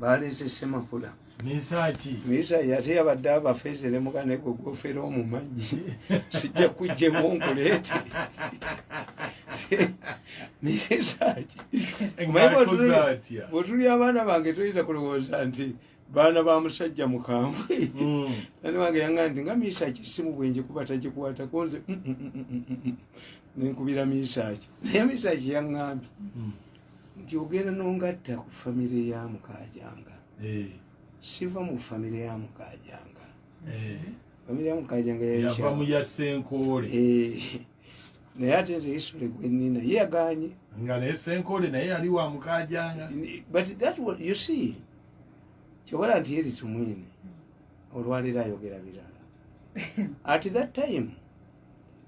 baleesese makula misa yate yabadde abafeeze ne muganda gwe gwofera omumanyi sijja kujjemu nkuleete misa ki bwetuli abaana bange toyinza kulowooza nti baana ba musajja mukambwe mm. ani wange yanga nti nga misaaki simu bwenje kuba takikwatako nze mm, mm, nenkubira misaaki naye misaaki yaŋŋambi nti ogenda nongatta ku famire ya mukajanga eh. siva mu famire ya mukajanga eh. famire ya mukajanga yava mu ya senkoole eh. naye ate nze isule gwenina ye yaganye nga naye senkole naye yali wa mukajanga but that what you see kyobola nti yeri tumwine olwaliro ayogera birala at that time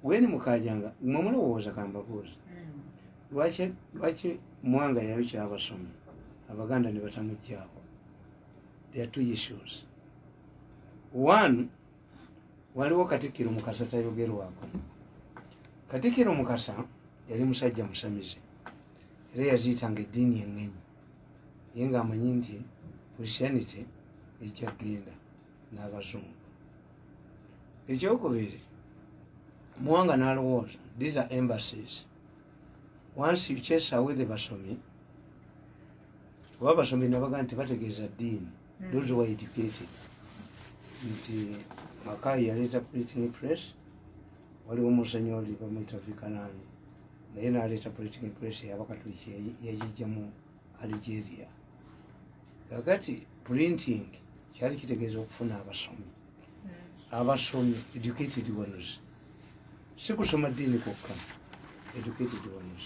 weni mukajanga mwe mulowooza kambabuuza hmm. lwaki lwaki mwanga yayo kyabasomi abaganda ne batamujjaako there are two issues one waliwo katikkiro mukasa tayogerwako katikkiro mukasa yali musajja musamize era yaziyitanga eddiini engenyi ye nga amanyi nti christianity ejja kgenda n'abazungu ekyokubiri muwanga n'alowooza these are embassies once you chase away the basomi oba abasomi nabaga nti bategeeza ddiini hmm. those were educated nti makayi yaleeta printing press waliwo musenyi oli bamuyita vikanani naye naleeta printing press yabakatuliki yagijjamu algeria kakati printing kyali kitegeeza okufuna abasomi hmm. abasomi educated ones si kusoma ddiini kwokka educated ones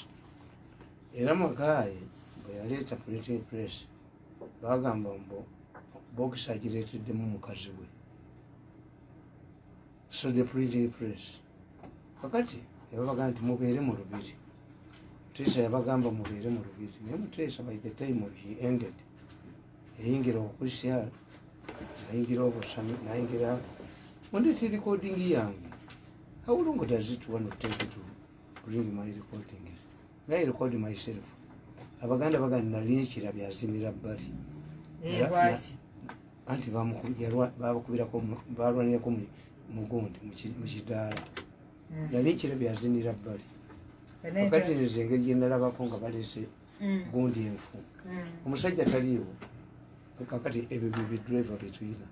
era makayi bwe yaleeta printing press bagamba mbu bokisi agireeteddemu mukazi we so the printing press kakati nebabaga nti mubeere mu lubiri muteesa yabagamba mubeere mu lubiri naye muteesa by the time he ended yayingira obukristiyaan nayingira obusami nayingira mundeti recording yange how long does it want to take to bring my recording naye record myself abaganda bagana nali nekirabye azinira bbali anti babakubirako balwanirako mugundi mukidaala hmm. nali nkirabye azinira bbali wakati nze engeri gyenalabako nga balese hmm. gundi enfu hmm. omusajja taliiwo kakati ebyo bibidriva byetuyina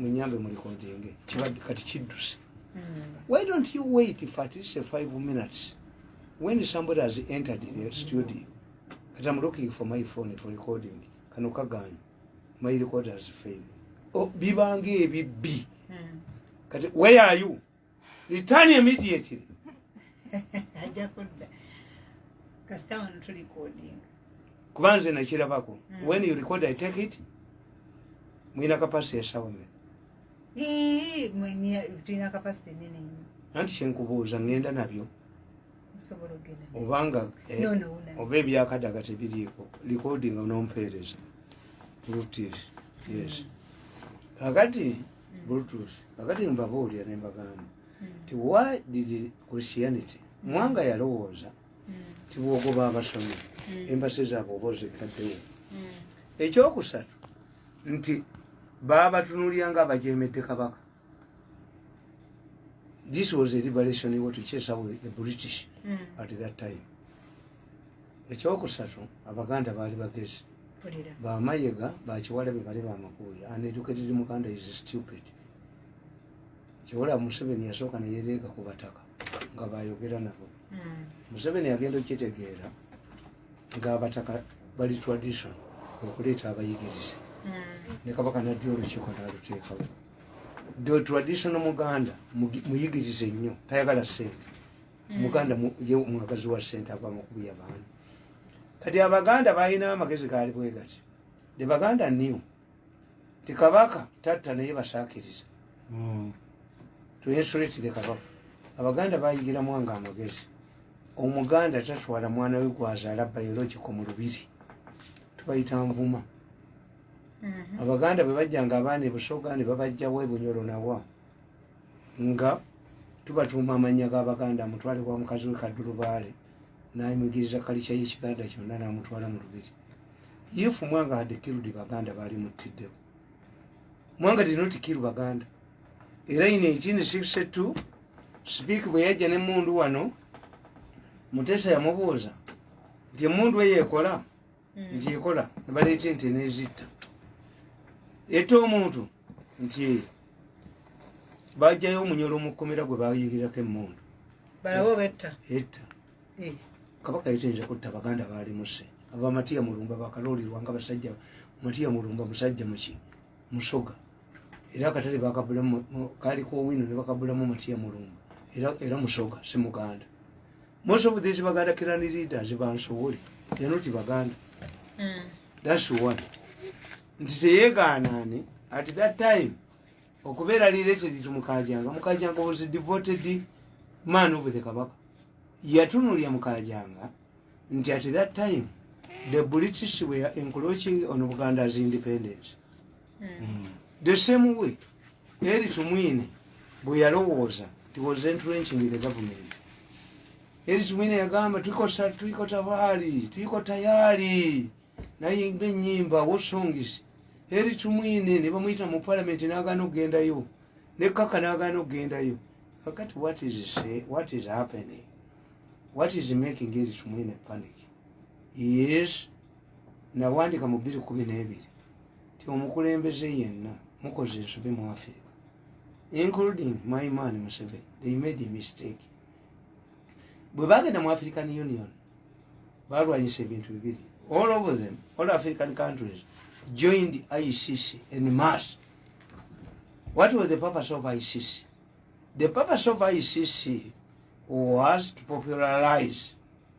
munyambe mulikodinge kibadde kati kidduse why don't you wait for at least five minutes when somebody has entered the studio kati am looking for my phone for recording kano kaganya my record has failed oh, bibanga ebibbi hmm. kati where are you return immediately ajja kudda kasita wano tu recording kuba nze nakirabako hmm. when you record i take it mulina kapasiti esawa meka tulina kapasite nene nnyo anti kyenkubuuza ngenda nabyo obanga eh, oba ebyakadaga tebiriiko likodi nga nompeereza bluetooth yes mm. kakati mm. bluetooth kakati mbabuulira nembagamba mm. ti why did christianity mwanga yalowooza ti bwogoba abasomi embasi zaabwe oba ozikaddewo ekyokusatu nti baabatunulira nga abajemedde kabaka this was a liberation what to chase away the british mm. at that time ekyokusatu abaganda baali bagezi bamayega bakiwala be bali bamakuuya an educated muganda is stupid kiwala museveni yasooka neyereega ku bataka nga bayogera nabo mm. museveni agenda okukitegeera ng'abataka bali tradition okuleeta abayigirize hmm. ne kabaka naddi olukiiko naluteekawo the traditional muganda muyigirize nnyo tayagala sente hmm. muganda ye mwagazi wa sente ava mukubiya baana kati abaganda balina amagezi gaali bwegati the baganda new ti kabaka tatta naye basakiriza hmm. tuhesuretire kabaka abaganda bayigiramwanga amagezi omuganda tatwala mwana we gwazala biologico mu lubiri tubayita nvuma mhm. abaganda bwe bajjanga abaana ebusoga ne babajjawo ebunyolo nawa nga tubatuuma amannya g'abaganda mutwale wa mukazi we kadulubaale nayimwigiriza kalica yekiganda kyonna namutwala mu lubiri if mwanga had killed baganda baali muttiddewo mwanga did not kill baganda era ino ekindi sikise tu sipiiki bwe yajja nemundu wano mutesa yamubuuza nti emundu eyo ekola hmm. nti ekola nebaleeta ente nezitta ete omuntu nti eyo bajjayo omunyolo mukomera gwe bayigirako emundu etta eh. kabaka yetayinza kutta baganda balimuse aba matiya mulumba bakaloolirwa nga basajja matiya mulumba musajja muki musoga era akatale bakabulamu kaliko owino nebakabulamu matiya mulumba era musoga si muganda most of these baganda kirani leaders bansowole they're not baganda mm. that's one nti teyegaanaani at that time okubeera liretedi to mukajanga mukajanga was a devoted man of the kabaka yatunulya mukajanga nti at that time the british were encroaching on buganda's independence mm. the same way Eri Tumwine bwe yalowooza he was entrenching in the government. Eri Tumwine yagamba tuliko tuliko tabali tuliko tayari naye ng'ennyimba wo songs Eri Tumwine ne bamuyita mu parliament n'agaana okugendayo ne Kaka n'agaana okugendayo kakati what is say what is happening what is making Eri Tumwine panic yes nawandika mu bbiri kumi n'ebiri nti omukulembeze yenna mukoze ensobi mu afirika including my man museven they made a mistake bwe bagenda mu african union balwanyisa ebintu bibiri all over them all african countries joined icc in mass what was the purpose of icc the purpose of icc was to popularize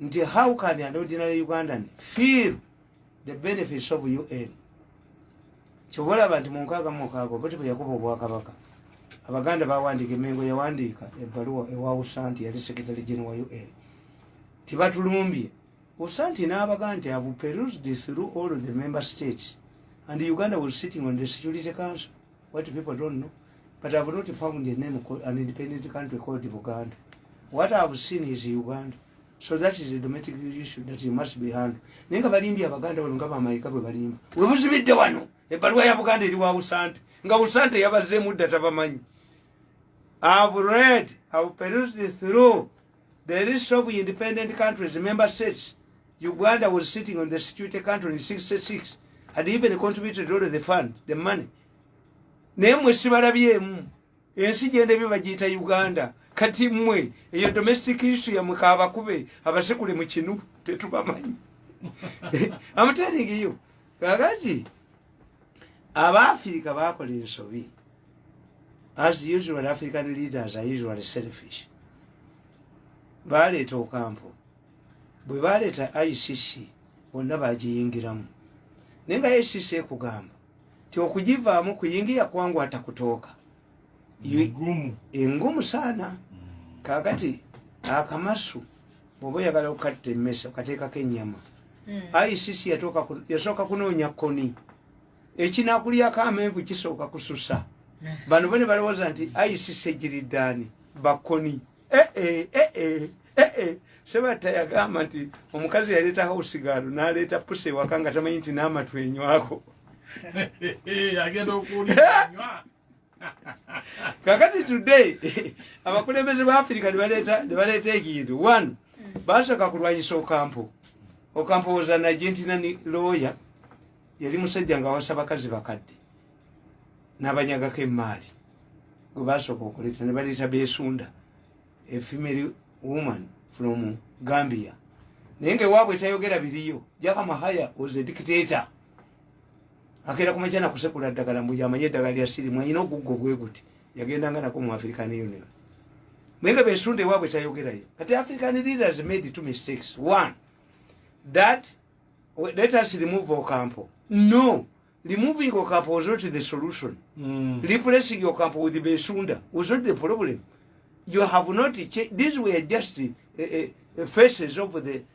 nti how can an ordinary ugandan feel the benefits of un kyoba olaba nti munkaaga mukaaga oba tebeyakuba obwakabaka abaganda bawandiika emengo yawandiika ebbaluwa ewawusa nti yali secretary general wa un tibatulumbye usa nti n'abaga nti ave perused through all the member states and uganda was sitting on the security council What people don't know, but I've not found a name called an independent country called Uganda. What I've seen is Uganda. So that is a domestic issue that you must be handled. Nenga balimbi abaganda wano nga bamayika bwe balimba. We muzibidde wano. Ebbaluwa ya Buganda eri wa Usante. Nga Usante yabazzeemu dda tabamanyi. I've read, I've perused through The list of independent countries, member states, Uganda was sitting on the security country in 66, had even contributed to the fund, the money. Naye mwe sibalabyemu ensi gyenda ebyo bagiyita Uganda kati mwe eyo domestic issue yamwe kabakube abasekule mu kinu tetubamanyi I'm telling you kakati abaafirika bakola ensobi as usual african leaders are usually selfish baleeta okampo bwe baleeta icc bonna bagiyingiramu naye nga icc ekugamba ti okugivaamu kuyingiya kwangu atakutooka engumu saana hmm. kakati akamasu bwoba oyagala okukatta emmese okateekako ennyama hmm. icc yasooka kunoonya koni ekinakulyako amenvu kisooka kususa bano bone balowooza nti icc egiriddaani bakoni eh, eh, eh, Eh, eh, sebatta yagamba nti omukazi yaleeta hausigaalo naleeta pusa ewaka nga tamanyi nti n'amatwenywako kakati today abakulembeze ba afirika nebaleeta ekintu one mm. basooka kulwanyisa okampo okampo was an argentina lawyer yali musajja nga awasa bakazi bakadde nabanyagako emaali gwe basooka okuleeta nebaleeta besunda a female woman from gambia naye nga ewaabwe tayogera biriyo jakamahaya was a dictator akeera ku makya nakusekula ddagala mbu yamanye eddagala lya sirimu alina oguggo bwe guti yagendanga nako mu african union naye nga besunda ewaabwe tayogerayo kati african leaders made two mistakes one that let us remove ocampo no removing ocampo was not the solution mm. replacing ocampo with besunda was not the problem you have not changed these were just uh, uh, faces of the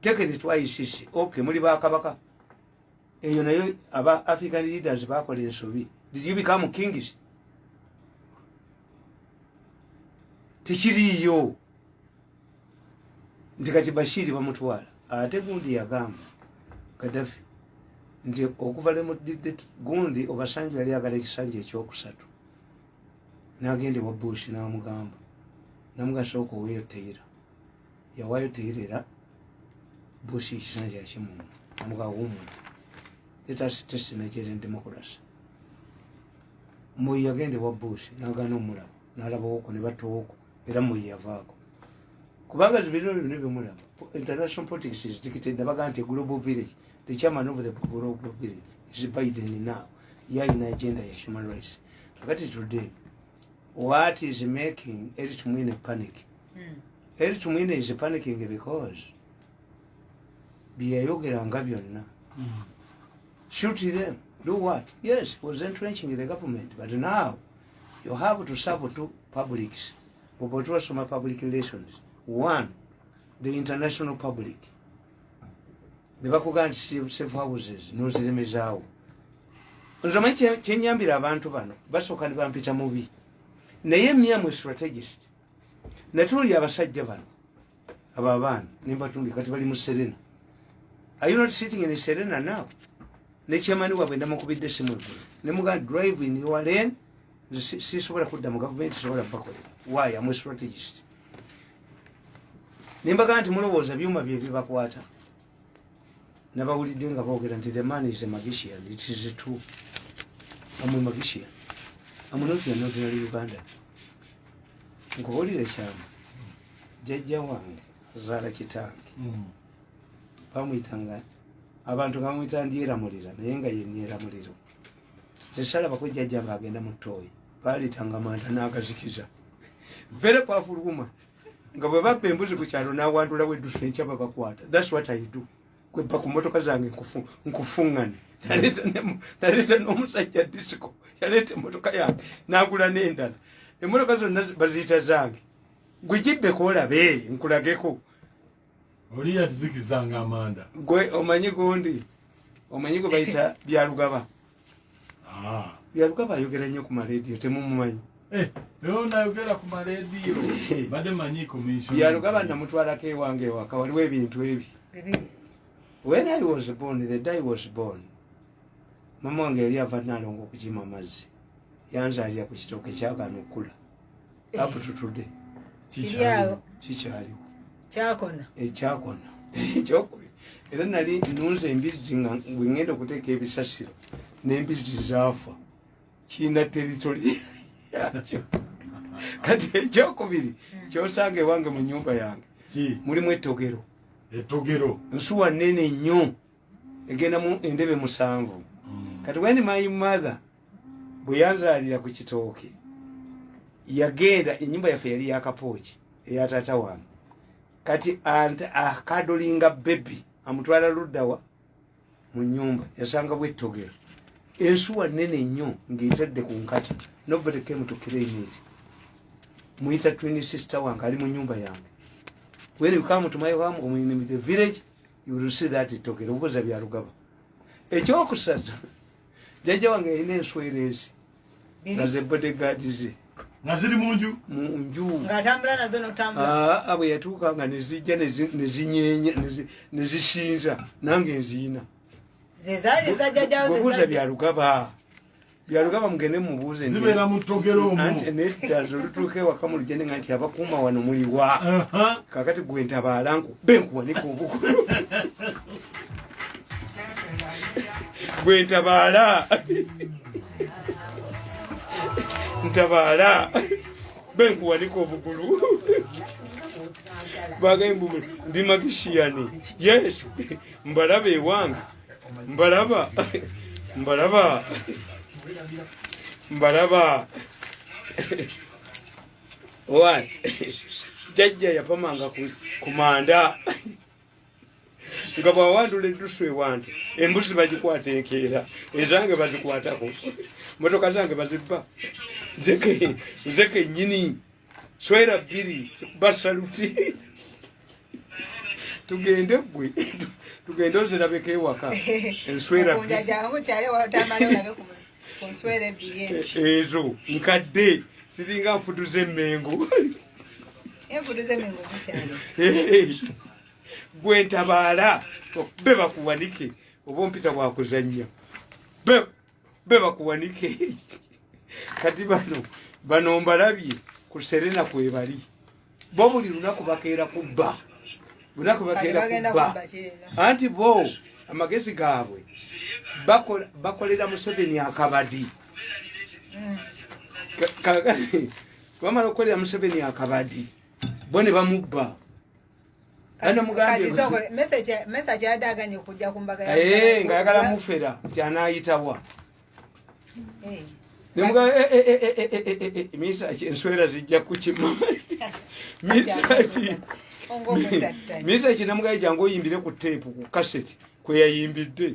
take it to icc okay muli bakabaka eyo nayo aba african leaders bakola ensobi did you become kings tekiriiyo nti kati bashiri bamutwala ate gundi yagamba kadafi nti okuva lemudidde gundi obasanju yali agala ekisanja ekyokusatu nagenda ewa bush namugamba namugasa okoweyoteyira yawaayo teerera busi ekisanja kimuno amuka woman let us test nigerian democracy moyi yagenda ewa busi nagana omulaba nalabawoko ne batowoko era moyi yavaako kubanga zibirino byona byomulaba international politics is dictated nabaga nti global village the chairman of the global village is biden now yalina agenda ya human rights kakati today what is making eritmwine panic Mm. eri tumwine is panicking because byeyayogeranga byonna Mm. shoot them do what yes he was entrenching the government but now you have to serve two publics obo twasoma public relations one the international public nebakugaa nti si- safe houses noziremezaawo nze omanyi kye- kyenyambira abantu bano basooka nebampita mubi naye myamwe strategist naye tunuli abasajja bano abo abaana nembatunuli kati bali mu serena are you not sitting in serena now nekyemani wabwe ndamukubidde simu eggulu nemuga drive in your lane sisobola kudda mu gavumenti sobola bakolera why am a strategist nembaga nti mulowooza byuma byebibakwata nabawulidde nga boogera nti the man is a magician it is true am a magician am not an ordinary uganda nkubuulire kyama jajja wange azaala kitange mm. bamuyita nga abantu nga bamuyita ndyeramulira naye nga yenyeramuliro tesalabako jajja nga agenda mu tooyi baalitanga manda n'agazikiza very powerful woman nga bwe babba embuzi ku kyalo n'awandula weddusa enkya babakwata thats what i do kwebba ku mmotoka zange nkufuŋŋane naleeta n'omusajja disiko yaleeta emmotoka yange n'agula n'endala emmotoka zonna baziyita zange gwe gibbeko olabe nkulageko oli yatuzikizanga amanda gwe omanyi gundi omanyi gwe bayita byalugaba Ah. Yaluka bayogera nnyo ku maleediyo temumumanyi. Eh, leo nayogera ku maleediyo bade manyi commission. Yaluka banamutwalako ewange ewaka waliwo ebintu ebi. When I was born, the day was born. Mama wange yali ava nalongo okukima amazzi. Yanzalira ku kitooke kyagaana okukula. apututude kikyaliwo kikyaliwo kyakona ekyakona ekyokubiri era nali nunze embizzi nga bwengenda okuteeka ebisasiro nembizzi zaafa kiina teritoli yakyo kati ekyokubiri hmm. kyosanga ewange mu nyumba yange mulimu etogero etogero nsuwa nene nnyo egenda mu endebe musanvu mm. kati when my mother bwe yanzaalira ku kitooke yagenda enyumba yaffe yali yakapooki eya taata wange kati akadolinga ah, bebi amutwala luddawa mu nyumba yasanga bwettogero ensuwa nene nnyo ngaetadde ku nkata nobody came to claim it muyita twin sister wange ali mu nyumba yange when you come to my home omuinimi the village you will see that togera obuza bya rugaba ekyokusaza jaja wange ine enswera ezi naze bodyguard ze naziri munju munju ngatambula nazo notambula ah abo yatuka nga nezija nezinyenya nezishinja nange nzina zezali za jaja obuza bya rugaba byalugaba mugende mubuuze zibeera mu ttogero omuanti nedaza olutuuka ewaka mu lujende nga nti abakuuma wano muliwa kakati gwe ntabaala nkube nkuwanika obukulu gwe ntabaala ntabaala be nkuwanika obugulu bagaye mbu ndi magishiyani yes mbalabe ewange mbalaba mbalaba mbalaba owa jajja yapamanga ku manda nga bwawandula eddusu ewange embuzi bagikwata enkeera ezange bazikwatako motoka zange bazibba nze kenyini swera bbiri basaluti tugende gwe tugende ozirabeko ewaka enswera ezo nkadde ziringa nfudu zemengo gwe ntabaala be bakuwanike oba ompita bwakuzannya be bakuwanike kati bano bano mbalabye ku serena kwebali bo buli lunaku bakeera kubba lunaku bakeera kubba anti bo amagezi gaabwe bakolera museveni akabadi mm. kakati bamala okukolera museveni akabadi bo ne bamubba message yadaganye okujja ku mbaga eh, nga yagala mufera nti anayitawa eh. nemuga eh, misa enswera zijja kukima misaki misa ki nemugaye jangu oyimbire ku teepu ku kaseti kweyayimbidde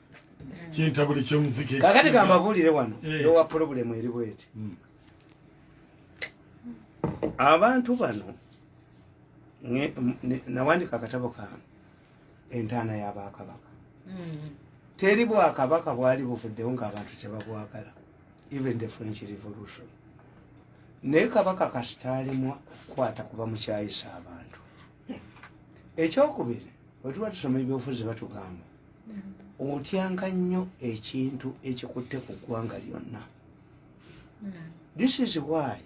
kintabuli kyomuziki kakati kambabuulire wano eh. yowa pulobulemu eri bweti hmm. abantu bano nawandika akatabo kange entaana yabakabaka hmm. teri bwakabaka bwali buvuddewo ngaabantu kyebabwagala even the french revolution naye kabaka kasitalimu okukwata kuba mukyayisa abantu ekyokubiri wetuba tusoma ebyobufuzi batugamba otyanga nnyo ekintu ekikutte ku ggwanga lyonna this is why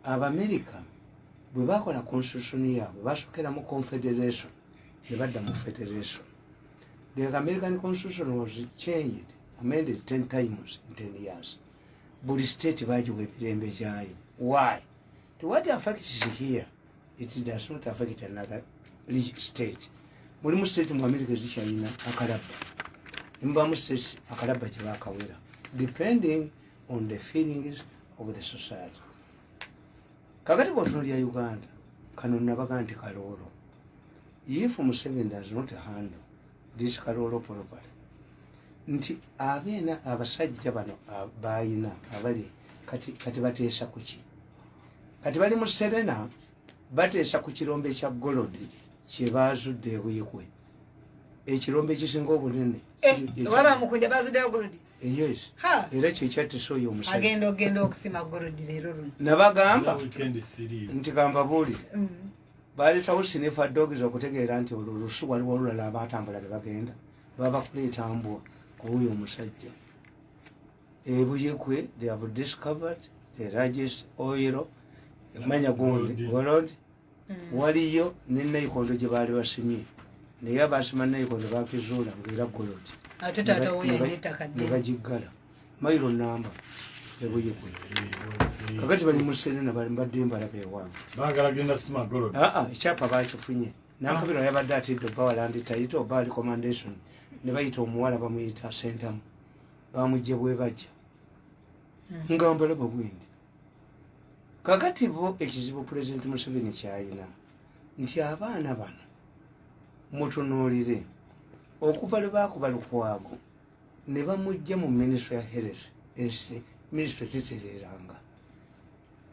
abamerica bwe bakola constitution yaabwe basokera mu confederation ne badda mu federation the american constitution was changed amended ten times in ten years buli state bagiwa emirembe gyayo why to what affects here it does not affect another state mulimu state mu america ezikyalina akalabba nemubamu state akalabba kyebakawera depending on the feelings of the society kakati bwotuno lya uganda kano nabaga nti kaloolo if museven does not handle this kaloolo property nti abeena abasajja bano bayina abali kati bateesa kuki kati bali mu serena bateesa ku kirombe kya golodi kyebaazudde ebuikwe ekirombe ekisinga obunene eh, eh, era kyekyatisa oyo omusajanabagamba nti kambabuulire mm. baaletawo sinefa dogs okutegeera nti olwo olusu waliwo olulala abaatambula ne bagenda babakuleeta mbwa kuwuyo omusajja ebuyikwe they have discovered the largest oil manya gundi golod mm. waliyo ne naikondo gye baali basimye naye abasima naikondo bakizuula ngaera golod ne bagiggala mailo namba ebuyikwe kakati bali muserena bali mbadde mbalaba ewange aa ekyapa bakifunye nankabira ah. yabadde atidde obawalanditayite oba ali commandation ne bayita omuwala bamuyita sentamu bamujja bwebajja hmm. nga mbalaba bwendi kakati bo ekizibu pulezidenti museveni kyayina nti abaana bano mutunuulire okuva lwe baakuba lukwago ne bamujja mu minisitule ya health ensi minisitule tetereeranga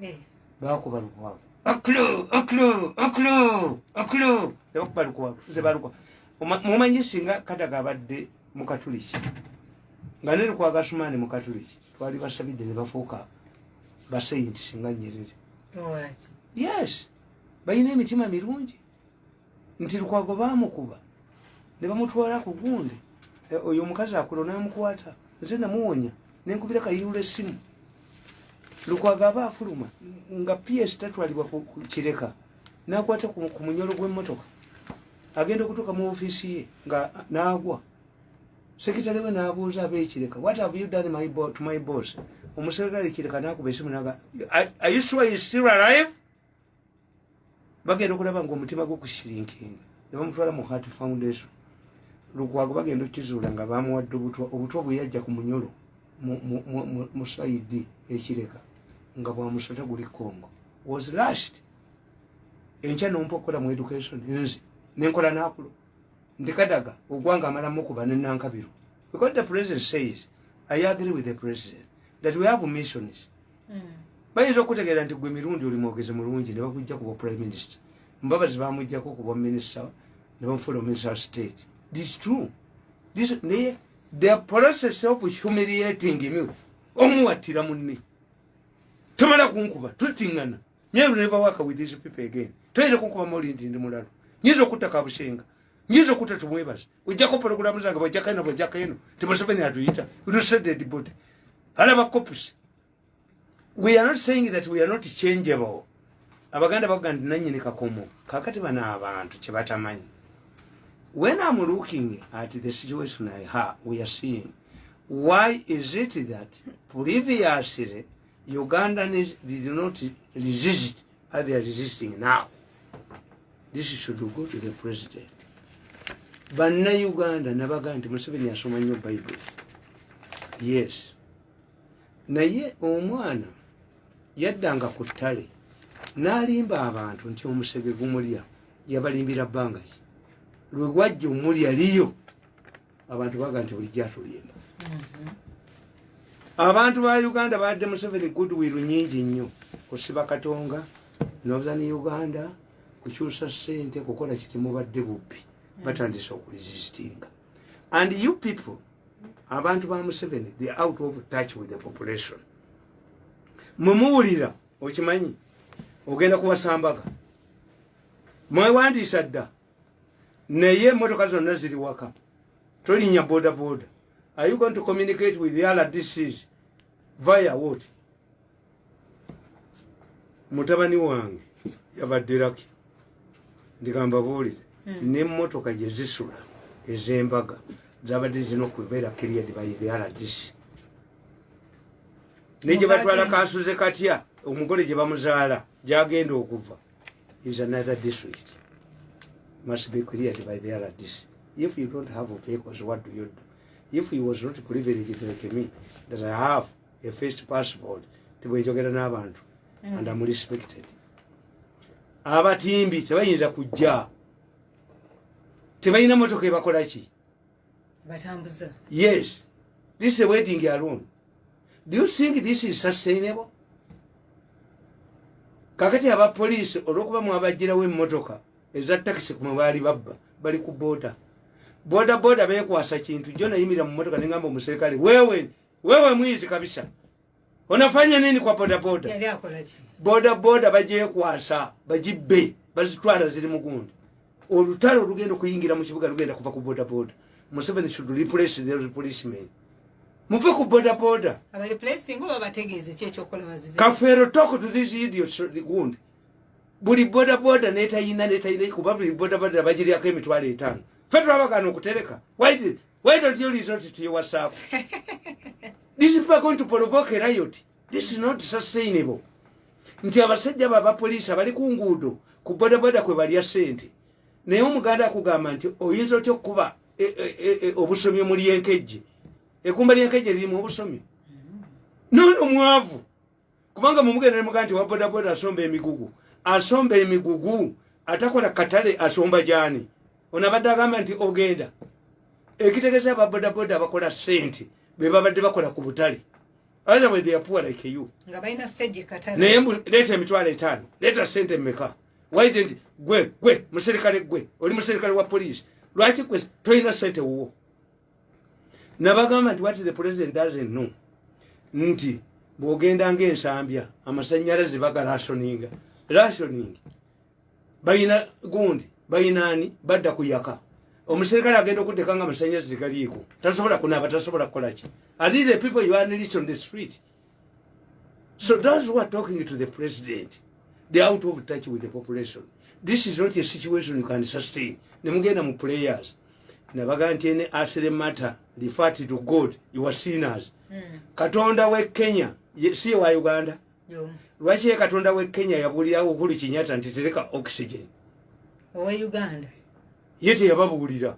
eh. baakuba lukwago oklo oklo oklo oklo nebakuba lukwago nze balukwago mumanyi singa kadaga abadde mukatuliki nga nene kwa gasumani mukatuliki twali basabidde ne bafuuka basayinti singa nyerere yes balina emitima mirungi nti lukwago bamukuba ne bamutwala ku gundi eh, oyo omukazi akulo namukwata nze namuwonya nenkubira kayirula essimu lukwago aba afuluma nga ps tatwalibwa ku kireka ku nakwata ku munyolo gw'emmotoka agenda okutuuka mu ofiisi ye nga naagwa sekitale we nabuuza aba ekireka what have you done my to my boss omuserikale ekireka nakuba esimu naga are you sure you still alive bagenda okulaba nga omutima gwo kusirinkinga ne bamutwala mu heart foundation lukwago bagenda okukizuula nga bamuwadde obutwa obutwa bweyajja ku munyolo mu saidi ekireka nga bwamusota guli kongo was last enkya nompa okukola mu education nze nenkola nakulo nti kadaga ogwanga amalamu okuba nenankabiro because the president says i agree with the president that we have missions mm. bayinza okutegeera nti gwe mirundi oli mwogezi mulungi ne bakujja kuba prime minister mbabazi bamujjako okuba minister ne bamufuula ominister wa state this true this naye the process of humiliating me omuwattira munne tomala kunkuba tutingana me will never work with these people again toyinza kunkuba moli nti ndi mulalu nyinza okutta kabushenga nyinza okutta tumwebaza ojjako pologulamu zange bajjako eno bajjako eno ti museveni atuyita utuseded body alaba copusi we are not saying that we are not changeable abaganda bavuga nti nanyini kakomo kakati bano abantu kyebatamanyi when am looking at the situation i ha we are seeing why is it that previously ugandans did not resist as they are resisting now this should go to the president banna uganda nabaga nti museveni asoma nnyo bible yes naye omwana yaddanga ku ttale n'alimba abantu nti omusege gumulya yabalimbira bbanga ki lwe gwajja omulya liyo abantu baga nti bulijjo atulimba mhm. abantu ba uganda badde museveni goodwill nyingi nnyo kusiba katonga northern uganda kukyusa ssente kukola kitimubadde bubbi mhm. batandise okulisistinga and you people abantu ba museveni the out of touch with the population mumuwulira okimanyi ogenda kuwasambaga mwewandiisa dda naye emotoka zonna ziri waka tolinya boda boda are you going to communicate with the rdcs via what mutabani wange yabadde laki ndigamba buulire hmm. nemotoka gyezisula ezembaga zabadde zina okubeera period by the rdc naye gyebatwala kansuze katya omugole gye bamuzaala gyagenda okuva is another district must be cleared by the rdc if you don't have vehicles what do you do if he was not privileged like me that i have a first passport tibwejogera n'abantu mm. and am respected abatimbi tebayinza kujja tebalina motoka ebakola ki batambuza yes this is a wedding alone do you think this is sustainable kakati aba police olwokuba mwabajjirawo emotoka eza takisi kumwe baali babba bali ku boda boda boda bekwasa kintu jo nayimira mu motoka nengamba omuserikale wewe Wewe mwizi kabisa. Unafanya nini kwa boda boda? Yale akolaji. Boda boda baje kwasa, bajibe, bazitwara ziri mugundi. Olutaro lugendo kuyingira mu kibuga lugenda kuva ku boda boda. Museveni should replace the policemen. Muve ku boda boda. Aba replacing oba bategeze kye kyokola bazibe. Kafero talk to this idiot gundi. Buli boda boda neta yina neta yina kubabu boda boda bajiri yako emitwale etano. Fetwa bakano kutereka. Why did Why don't you resort to your WhatsApp? These people are going to provoke a riot. This is not sustainable. Nti abasajja baba police abali ku nguudo ku bodaboda kwe balya sente. Naye omuganda akugamba nti oyinza otya okukuba e, e, e, obusomi omuli enkejje. Ekumba ly'enkejje lirimu obusomi. N'ono mwavu. kubanga mumugenda nemugaa nti wabodaboda asomba emigugu asomba emigugu atakola katale asomba gyani ono abadde agamba nti ogenda ekitegeza ababodaboda abakola sente bebabadde bakola ku butale otherwise they are poor like you nga balina stage katale naye mbu leta emitwalo etaano leta sente meka why isn't gwe gwe muserikale gwe oli muserikale wa police lwaki gwe toyina sente wuwo nabagamba nti wat the president doesn't know nti bwogenda ngaensambya amasanyalaze bagalasoninga rationing bayina gundi bayinaani badda kuyaka omuserikale agenda okuddeka nga amasanyalaze galiiko tasobola kunaaba tasobola kukolaki are these the people you are on the street So those who are talking to the president, they're out of touch with the population. This is not a situation you can sustain. Nemugenda mu players. Nabaga nti any asile matter, refer to God, you are sinners. Mm. Katonda we Kenya, si wa Uganda. Yo. Lwaki ye Katonda we Kenya yabulira Uhuru Kenyatta nti tereka oxygen. Owe Uganda. Yete yababuulira.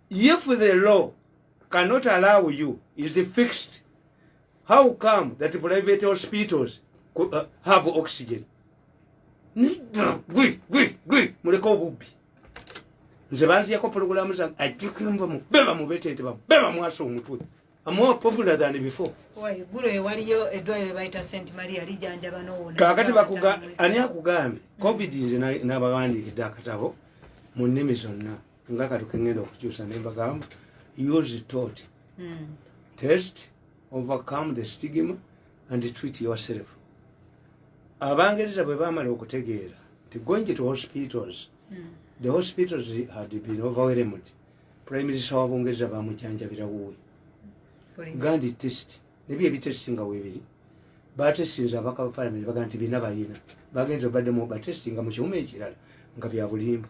If the law cannot allow you is fixed, how come that private hospitals uh, have oxygen? Gwi, gwi, gwi, muleka obubbi. Nze banziyako programu zange ajjuka enva mu beba mu betente ba beba mwasa omutwe. I'm more popular than before. Why, gulo ewaliyo edwayo baita Saint Maria lijanja banoona. Kakati bakuga ani akugambye? Covid nze na, na bagandi kidakatabo mu nimi zonna. nga kati kengenda okukyusa ne mbagamba use tot hmm. test overcome the stigma and treat yourself abangereza bwe bamala okutegeera nti going to hospitals hmm. the hospitals had been overwhelmed prime minister wa bungereza bamujanjabira wuwe gandi test nebyo ebitesti nga webiri batesinza abaka bafalamire baga nti bina balina bagenza obadde mu batesti nga mu kiwuma ekirala nga byabulimba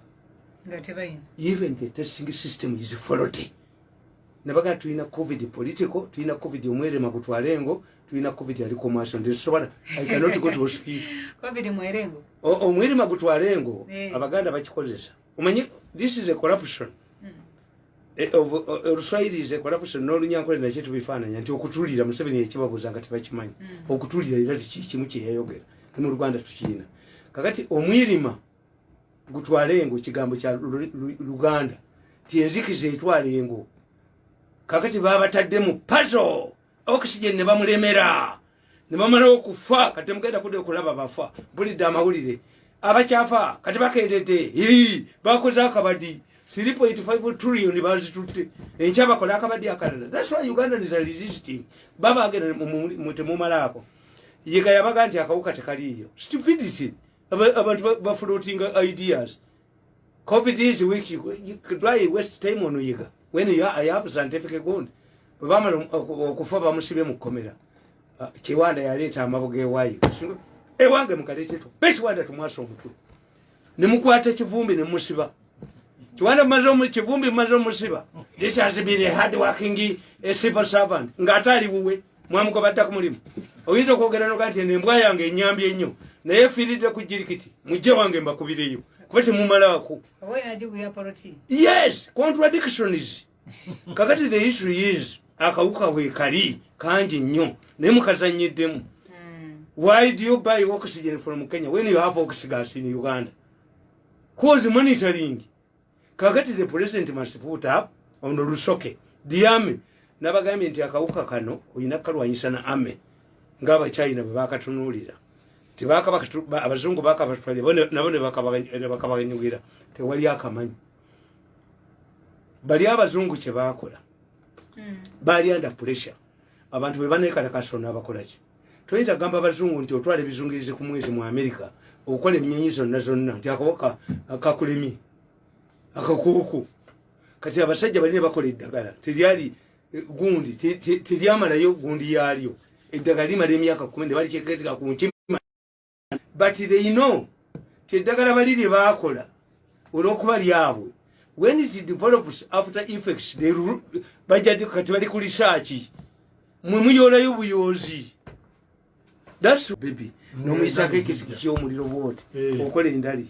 even the testing system is faulty nabaga tulina covid political tulina covid omwerema gutwale ngo tulina covid ali commercial ndi sobola i cannot go to hospital covid mwerengo omwerema gutwale ngo eh. abaganda bakikozesa umanyi this is a corruption hmm. eh, of eh, ruswairi is a corruption no lunyankole na chetu bifana nyanti okutulira museveni ekibabuza ngati bakimanya hmm. okutulira ira tikimu kyeyayogera mu rwanda tukina kakati omwirima gutwala engo kigambo kya luganda ti enzikiza etwala engo kakati babatadde mu pazo oxygen ne bamulemera ne bamala okufa kati mugenda kudda okulaba bafa bulidde amawulire abakyafa kati bakendedde bakoze akabadi 3.5 trillion bazitutte enkya bakola akabadi akalala thats why uganda is resisting babagenda temumalaako yega yabaga nti akawuka tekaliiyo stupidity abantu bafulutinga ideas covid is weak why waste time on yiga when you are, you have scientific ground bamala okufa bamusibe mu komera ah, kiwanda yaleeta amabuga ewayi ewange mukaleteto bekiwanda tumwasa omutwe nemukwata ekivumbi nemusiba kiwanda mumaze omukivumbi mumaze omusiba this has been a hard working a civil servant ngaate ali wuwe mwamugoba dda ku mulimu oyinza okwogera noga nti embwa yange enyambi ennyo naye efiiridde ku jirikiti mujje wange mbakubireyo kuba temumalaako yes contradictions kakati the issue is akawuka wekali kangi nnyo naye mukazanyiddemu hmm. why do you buy oxygen from kenya when you have oxygas in uganda cause monitoring kakati the president must put up on lusoke the army nabagambye nti akawuka kano olina kukalwanyisa na army ngaabachina bwebakatunuulira abazungu bakabatwalira nabo nebakabanyugira tewali akamanyi bali abazungu kyebakola hmm. bali under pressure abantu bwebanekalakaso nabakolaki toyinza kugamba abazungu nti otwala ebizungirizi ku mwezi mu amerika okukola enyonyi zonna zonna nti akawaka kakulemye akakuuku kati abasajja bali ne bakola eddagala teryali eh, gundi teryamalayo gundi yaalyo eddagala limala emyaka kumi ne balikeketeka ku nkima but they know ti eddagala bali lye baakola olwokuba lyabwe when it develops after effects bajjadi kati bali ku lisaaki mwe muyoolayo buyoozi that's baby mm, nomuyisako ekisiki kyomuliro bwoti eh. okola endali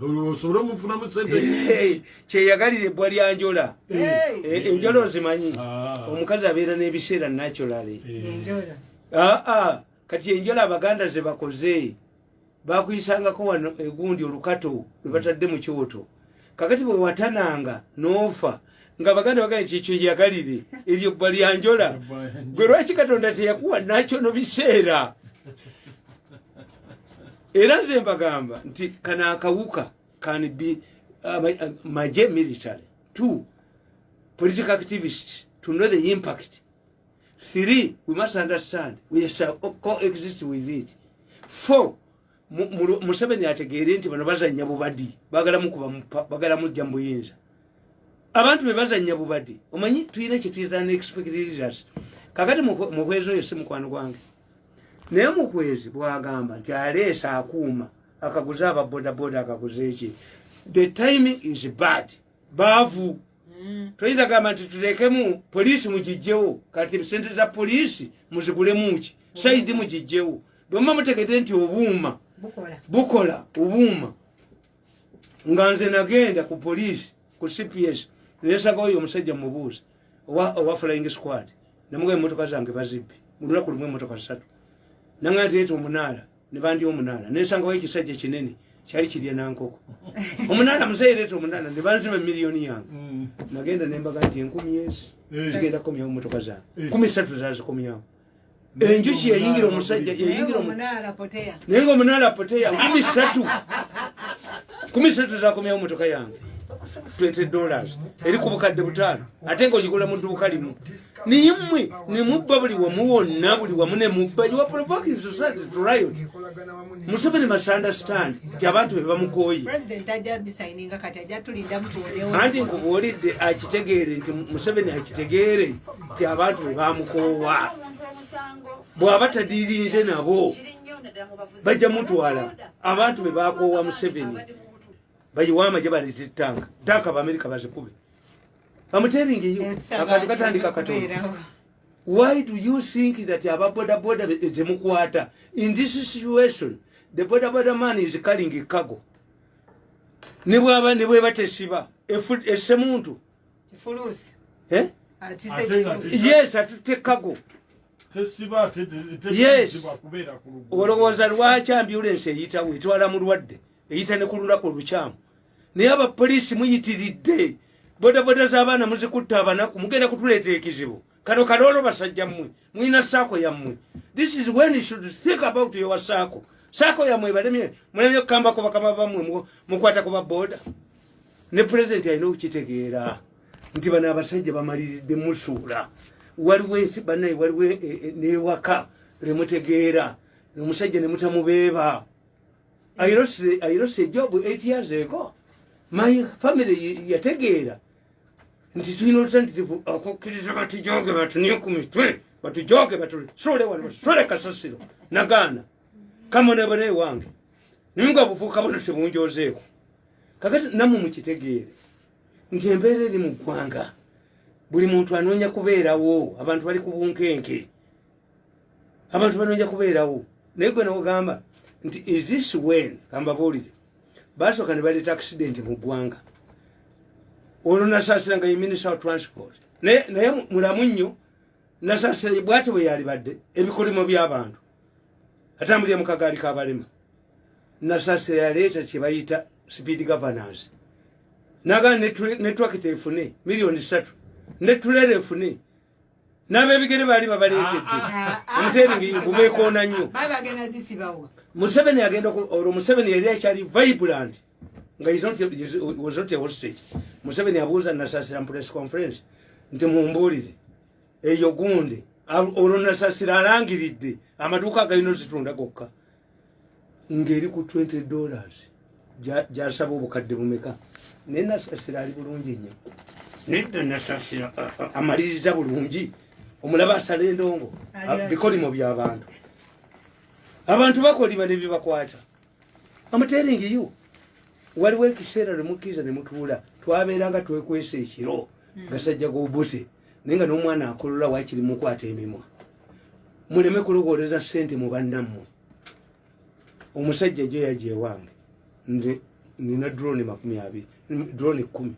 osobole omufunamu sente eh, kyeyagalira ebbwa lya njola eh. enjola ozimanyi ah. omukazi abeera n'ebiseera naturally aa ah, ah. kati enjola abaganda zebakoze bakuyisangako wano egundi olukato lwebatadde mu kyoto kakati bwewatananga nofa nga baganda bagane kyekyo yagalire eryo bwa lyanjola gwe lwaki katonda teyakuwa nakyo no biseera era nze mbagamba nti kana akawuka can be uh, uh maje military two political activist to know the impact three we must understand we shall coexist with it four museveni ategeere nti bano bazanya bubadi bagala mukuba bagala mujja mubuyinza abantu bebazanya bubadi omanyi tulina kyetuyita nexpectrs kakati muhwezi oyo si mukwano gwange naye muhwezi bwagamba nti aleesa akuuma akaguze ababodaboda akaguze eki the time is bad baavu mm. toyinza gamba nti tuteekemu poliisi mugijjewo kati sente za poliisi muzigulemuki saidi mm. mugijjewo bwemuba mutegede nti obuuma bukola obuuma nga nze nagenda ku poliisi ku cps nesaga oyo omusajja mubuuzi owa flying squad namuga emotoka zange bazibbi mulunaku lumu emotoka satu nanga nti eti omunaala ne bandi omunaala nensangawo ekisajja kinene kyali kirya nankoko omunaala museereeta omunaala ne banziba emiliyoni yange mm. nagenda nembaga nti enkumi ezi eh. zigenda kukomyawo motoka zange eh. kumi satu zazikomyawo enjuki yayingira omusajja yayingira naye nga omunaala poteya kumi satu kumi satu zakomyawo motoka yange 20 dollars eri ku bukadde butaano ate nga ogikola mu dduuka limu naye mmwe ne mubba buli wamu wonna buli wamu ne mubba museveni masunderstand ti abantu be bamukooye anti nkubuulidde akitegeere nti museveni akitegeere ti abantu be bamukoowa bw'aba tadiirinze nabo bajja mutwala abantu be bakoowa museveni bayiwaama gye baleeta ettanga ttaka baamerika bazikube bamuteringeyo akati batandika katonda why do you think that aba boda boda temukwata in this situation the boda boda man is calling a cargo ne bwaba ne bweba tesiba ese muntu fulusi eh yes atute cargo tesiba yes olowooza lwaki ambulance eyitawo etwala mulwadde eyita ne kululako lukyamu naye abapoliisi muyitiridde bodaboda z'abaana muzikutte abanaku mugenda kutuleeta ekizibu kano kaloolo basajja mmwe mulina saako yammwe this is when you should think about your saako saako yammwe ebalemye mulemye okukambako bakama bammwe mukwata ku baboda ne pulezidenti alina okukitegeera nti bano abasajja bamaliridde musuula waliwo ensi banaye waliwo e, e, newaka lemutegeera omusajja nemutamubeeba I lost, the, I lost a job eight years ago. My family yategeera nti tulina olutanditivu okukkiriza batujooge batunye ku mitwe batujooge batusuule wano basuule kasasiro nagaana kamonebona ewange naye nga obuvuuka bona tebunjozeeko kakati namwe mukitegeere nti embeera eri mu ggwanga buli muntu anoonya kubeerawo abantu bali ku bunkenke abantu banoja kubeerawo naye gwe nogamba nti is this when kambabuulire basooka ne baleeta accident mu ggwanga olwo nasaasira nga ye minister of transport naye naye mulamu nnyo nasaasira bwati bwe yalibadde ebikolimo by'abantu atambulire mu kagaali k'abalema nasaasira yaleeta kye bayita speed governance nagaa netwakita efune miliyoni ssatu netulera efune n'abebigere baali babaleetedde ah, ah, ah, omuteeringi gumeekoona nnyo museveni agenda olwo museveni yali akyali vibrant nga was not a hostage museveni abuuza nasasira press conference nti mumbuulize eyo gunde olwo nasasira alangiridde amaduuka agalina ozitunda gokka ngeri ku 20 dollars gyasaba obukadde bumeka naye nasasira ali bulungi nnyo nedda nasasira amaliriza bulungi omulaba asala endongo bikolimo byabantu abantu bakoliba nebyebakwata amuteringi yo waliwo ekiseera lwemukkiriza nemutuula twabeeranga twekwesa ekiro hmm. gasajja gobuse naye nga n'omwana akolola wakiri mukwata emimwa muleme kulogooleza sente mu bannammwe omusajja jo yaja ewange nze nina drone makumi abiri drone kumi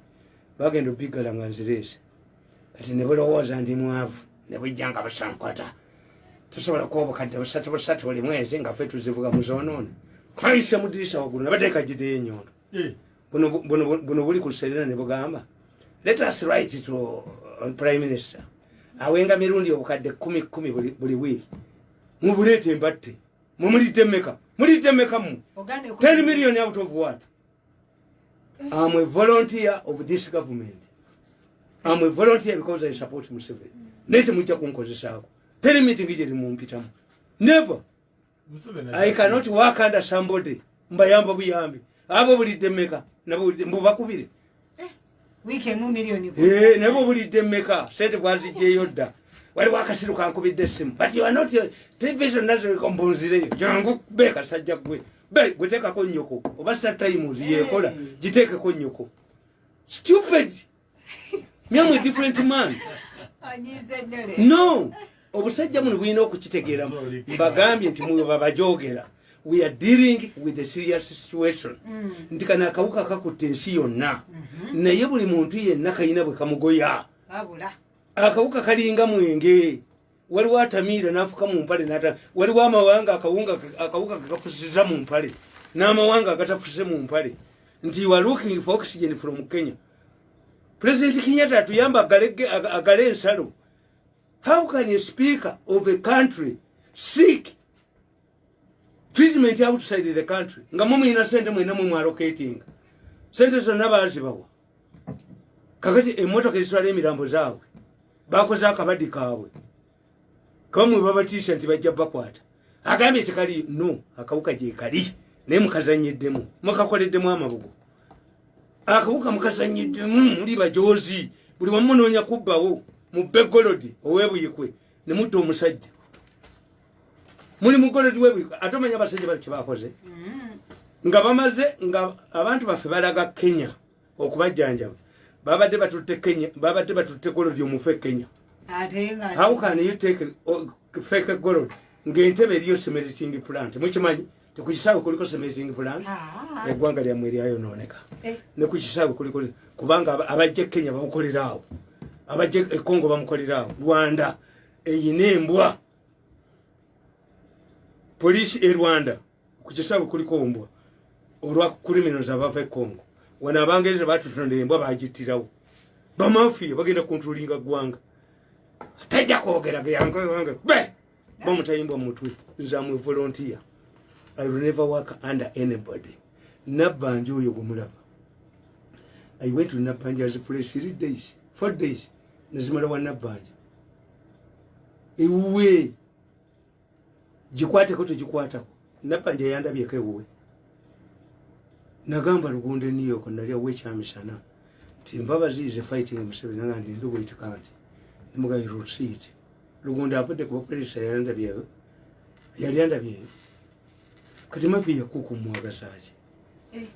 bagenda obiggala nga nzireese kati ne bulowooza ndi mwavu ne bujja nga busankwata tusobola kuba obukadde busatu busatu buli mwezi nga fe tuzivuga mu zoonoona kayisa mudirisa waggulu nabateeka gideyo enyondo eh. buno buli ku luserena ne bugamba let us write to uh, prime minister awenga mirundi obukadde kumi kumi buli wiiki mubuleeta embatte mumulidde meka mulidde meka mu 10 million out of what am a volunteer of this government am a volunteer because i support museveni naye temujja kunkozesaako teri mitingi gyeri mumpitamu never I cannot work under somebody mbayamba buyambi abo bulidde meka nabo mbu bakubire eh, wiki emu milioni ku eh nabo bulidde meka sente bwazijje yodda wali wakasiru kankubidde simu but you are not your television nazo ikombonzire jangu be kasajja gwe be guteka ko nyoko oba sa time uziyekola jiteke ko nyoko stupid myamu different man no obusajja muno bulina okukitegeeramu mbagambye nti mwe babajogera we are dealing with a serious situation mm. nti kana akawuka kakutte ensi yonna mm-hmm. naye buli muntu yenna kalina bwe kamugoya akawuka kalinga mwenge waliwo atamiira nafuka mu mpale nata waliwo amawanga akawunga akawuka kakafusiza mu mpale n'amawanga agatafuse mu mpale nti wa looking for oxygen from kenya president kenyatta atuyamba agale ensalo how can a speaker of a country seek treatment outside the country nga mumuyina sente mwena mumwalocatinga sente zonna bazibawa kakati emotoka ezitwala emirambo zaabwe bakoze akabadi kaabwe kamwe babatiisa nti bajja bakwata agambye tekali no akawuka gyekali naye mukazanyiddemu mukakoleddemu amabugo akawuka mukazanyiddemu muli bajoozi buli wamunoonya kubbawo mu begolodi owebuyikwe ne mutta omusajja muli mugolodi webwiko ate omanya abasajja bali kyebakoze mm-hmm. nga bamaze nga abantu baffe balaga kenya okubajjanjaba babadde batutte kenya babadde batutte golodi omufu e kenya how can you take oh, fake golod ngaentebe eriyo semeriting plant mukimanyi tekukisawe kuliko semeriting plant ah. egwanga lyamwe eryayonooneka eh. nekukisawe kuliko kubanga abajja e kenya bamukoleraawo abajja ekongo bamukoleraawo rwanda eyina embwa police e Rwanda kukisabu kuliko ombwa olwa criminals abava e Congo wana abangereza batutonda embwa bagitirawo bamafiya bagenda kontrolinga gwanga tajja kwogera geyange wange be bamutayimbwa mutwe nze amwe volunteer i will never work under anybody nabbanja oyo gwemulaba i went to nabbanja as a place three days four days nezimala wa nabbanja ewuwe gikwateko tegikwatako nabanja yandabyeko ewuwe nagamba lugunde new york nali awo ekyamisana nti mbabazi is fighting museveni nga ndi ndi wait card nemuga you will see it lugunde avudde ku bapolisi yali andabyeyo yali andabyeyo kati mavi yakuku mwagazaaki eh.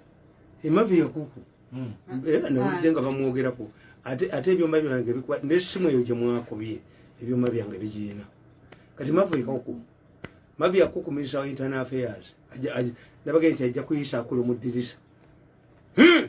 emavi yakuku hmm. eh, nawulidde nga bamwogerako ate ebyuma byange nesimu eyo gyemwakubye ebyuma byange bigiina kati mavi yakuku mavi yakuku minisita wa internal affairs nabagee nti ajja kuyisa akulu mu ddirisa hmm!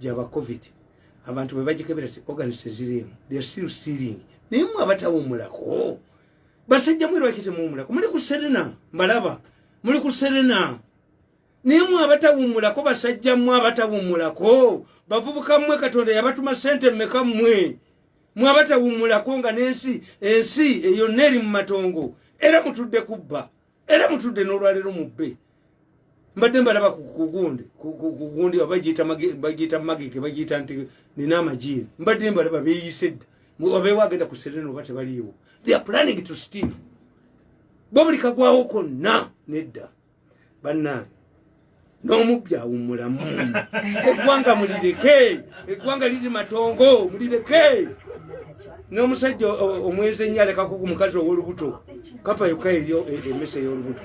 gyaba covid abantu bebagikebera ti organis teziriimu they are still stealing naye mwe abatawumulako basajja mwe lwaki temuwumulako muli ku serena mbalaba muli ku serena naye mwe abatawumulako basajja mwe abatawumulako bavubuka mwe katonda yabatuma sente mmeka mwe mwe abatawumulako nga nensi ensi eyo neeri mu matongo era mutudde kubba era mutudde n'olwaleero mubbe mbadde mbalaba kugundi kugundi bagiyita magike bagiyita nti nina amajiini mbadde mbalaba beyise dda obeewo agenda ku serena oba tebaliiwo thea planning to steve bo buli kagwawo konna nedda bannange n'omubbi awummulamu eggwanga mulireke eggwanga liri matongo mulireke n'omusajja omwezi ennyo alekako ku mukazi ow'olubuto kapa yokka eyo e, emmese ey'olubuto